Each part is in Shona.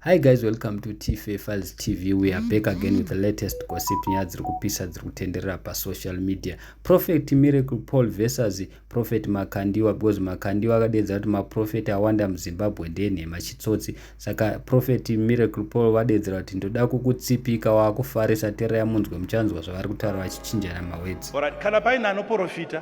Hi guys, welcome to TFA Files TV. We are back again with the latest gossip nyaya dziri kupisa dziri kutenderera pasocial media. Prophet Miracle Paul versus Prophet Makandiwa because Makandiwa akadeedza kuti maprofeti awanda muZimbabwe ndenhema chitsotsi. Saka Prophet Miracle Paul vadeedzera kuti ndoda kukutsipika wakufarisa tereya munzwe muchanzwa zvavari kutaura vachichinjana mawedzi. Alright, kana paine anoprofita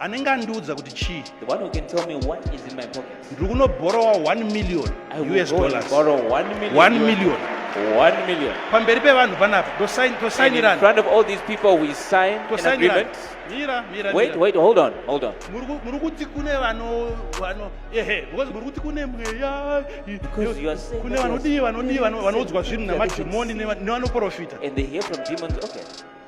anenge andiudza kuti chii ndiri kunobhorowa 1 million us dollars 1 million One million. pamberi pevanhu panapa Wait, wait, hold on, hold on. muri kuti kune vano vano ehe because muri kuti kune mweya Because you are saying kune vanodii vanodii vanoudzwa zvinhu namadhimoni nevanoprofita And they hear from demons. Okay.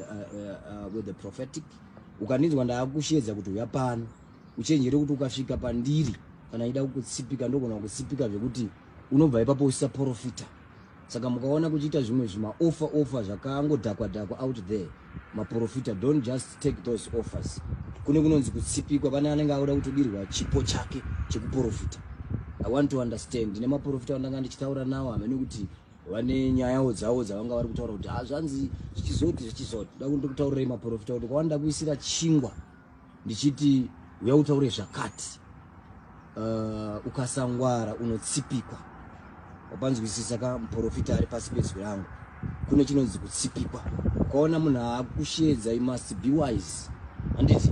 uh, uh, with the prophetic ukandinzwa ndaakushedza kuti uya pano uchenjere kuti ukasvika pandiri kana ida kukutsipika ndogona kukutsipika zvekuti unobva ipapo usisaprofita saka mukaona kuchiita zvimwe zvimaofa ofa zvakangodhakwa dhakwa out there maprofita don't just take those offers kune kunonzi kutsipikwa pane anenge auda kutodirwa chipo chake chekuprofita i want to understand ndine maprofita andanga ndichitaura nawo hamene kuti vane nyayawo dzavo dzavanga vari kutaura kuti hazvanzi ah, zvichizoti zvichizoti da kuti ndikutaurirai maprofita kuti kwavani ndakuisira chingwa ndichiti uya utaure zvakati uh, ukasangwara unotsipikwa wapanzwisisa ka muprofita ari pasi pezwi rangu kune chinonzi kutsipikwa ukaona munhu aakushedza you must be wise handiti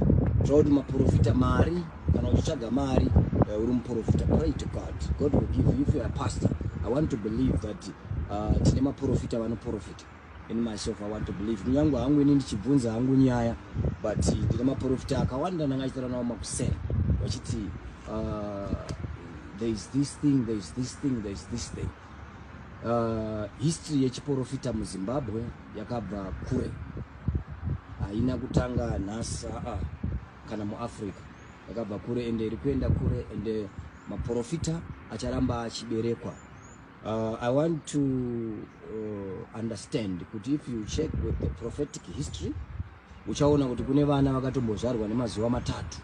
tava kuti maprofita mari kana uchitsvaga mari uh, uri muprofita pray to god god will give you if you are pastor i want to believe that uh, tine maprofita vanoprofita in myself i want to believe kunyange hangu ini ndichibvunza hangu nyaya but ndine maprofita akawanda ndanga achitaura nawo makuseni vachiti uh, there is this thing there is this thing there is this thing uh, history yechiprofita muzimbabwe yakabva kure haina kutanga nhasi aa uh -uh. kana muafrica yakabva kure ende iri kuenda kure ende maprofita acharamba achiberekwa uh, i want to uh, understand kuti if you check with the prophetic history uchaona kuti kune vana vakatombozvarwa nemazuva matatu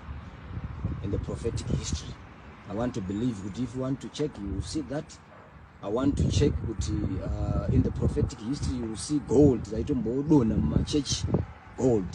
in the prophetic history i want to believe kuti if you want to check you will see that i want to check kuti uh, in the prophetic history you will see gold zaitomboodonha mumachechi gold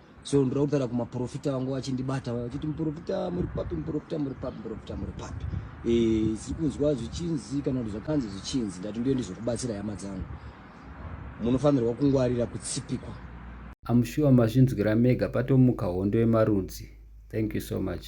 so ndoda kutaura kumaprofita vangu vachindibata vaya vachiti muprofita muri papi muprofita muri papi muprofita muri papi eh, siri kunzwa zvichinzi kana kuti zvakanzi zvichinzi ndati ndiyo ndizokubatsira hama dzangu munofanirwa kungwarira kutsipikwa amushuwa mazvinzwira mega patomuka hondo yemarudzi thank you so much